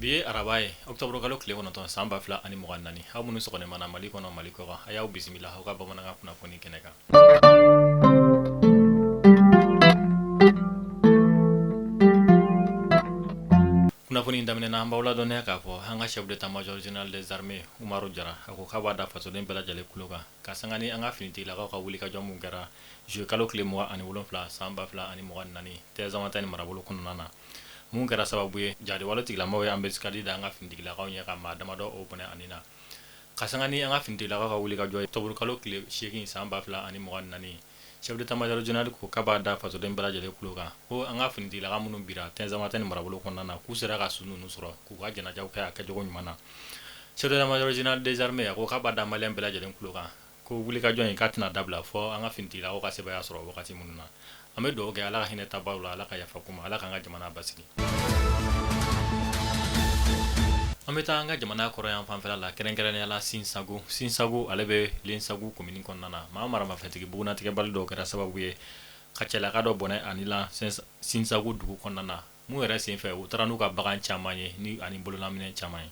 Bi ye araba ye ɔkutɔburukalo tile kɔnɔtɔn san ba fila ani mugan ni naani aw minnu sɔgɔma mana mali kɔnɔ mali kɔ a y'aw bisimila aw ka bamanankan kunnafoni kɛnɛ kan kunnafoni daminɛ na an b'aw ladɔnniya k'a fɔ an ka chef d'état-major général des armées umaru jara a ko k'a b'a da fasoden bɛɛ lajɛlen kulo kan ka sanga ni an ka finitigilakaw ka wuli ka jɔ mun kɛra juillet kalo tile mugan ani wolonwula san ba fila ani mugan ni naani tinzawatɛni marabolo kɔnɔna na mun kɛra sababu ye jadi waletigilamaaw ye embuscade da an ka finitigilakaw ɲɛ ka maa damadɔ o bɔnɛ a ni na ka sanga ni an ka finitigilakaw ka wuli ka jɔ ye tɔburukalo tile seegin san ba fila ani mugan ni naani chef d'état-major général ko k'a b'a da fasoden bɛɛ lajɛlen kulo kan ko an ka finitigilakaw minnu bira tinzawatɛni marabolo kɔnɔna na k'u sera ka su ninnu sɔrɔ k'u ka janajaw kɛ a kɛcogo ɲuman na chef d'état-major général des armées a ko k'a b'a da maliyɛn bɛɛ lajɛlen kulo kan ko wuli ka jɔ in k'a tɛna dabila fo an ka finitigilakaw ka sebaaya sɔrɔ wagati min na an bɛ dugawu kɛ ala ka hinɛ taabaw la ala ka yafa k'u ma ala k'an ka jamana basigi An bɛ taa an ka jamana kɔrɔnyanfan fɛla la kɛrɛnkɛrɛnnenya la sinsagu sinsagu ale bɛ lesagu komini kɔnɔna na maa maramafɛntigi bugunnatigɛbali dɔw kɛra sababu ye ka cɛlaka dɔ bɔnɛ a ni la sinsagu dugu kɔnɔna na mun yɛrɛ senfɛ u taara n'u ka bagan caman ye ni ani bololaminɛn caman ye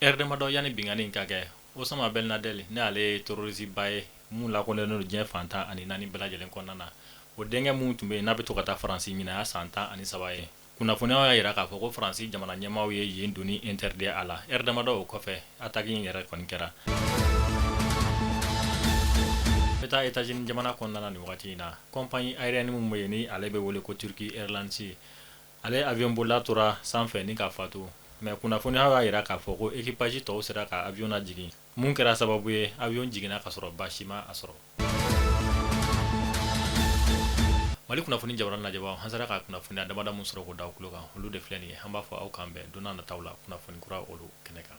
Heure damadɔ yanni binkanni in ka kɛ osama bɛn laden ne ale ye terroriste ba ye min lakodɔnnen don diɲɛ fan tan ani naani bɛɛ lajɛlen kɔnɔna na o denkɛ min tun bɛ yen n'a bɛ to ka taa faransi ɲinan y'a san tan ani saba ye kunnafoniyaw y'a jira k'a fɔ ko faransi jamana ɲɛmaaw ye yen donni interdit a la heure damadɔ o kɔfɛ attaque in yɛrɛ kɔni kɛra bɛ taa états-unis jamana kɔnɔna nin waati in na compagnie aérienne min bɛ yen ni ale bɛ wele ko turkish airlines ye Ale avion bolila tora sanfɛ ni ka fatu mais kunnafoniyaw y'a jira k'a fɔ ko équipage tɔw sera ka avion lajigin mun kɛra sababu ye avion jiginna ka sɔrɔ baasi m'a sɔrɔ mali kunnafoni jabarani lajɛbaaw an sera ka kunnafoniya damadɔ min sɔrɔ k'o d'aw kulo kan olu de filɛ nin ye an b'a fɔ aw k'an bɛn don nataw la kunnafoni kura olu kɛnɛ kan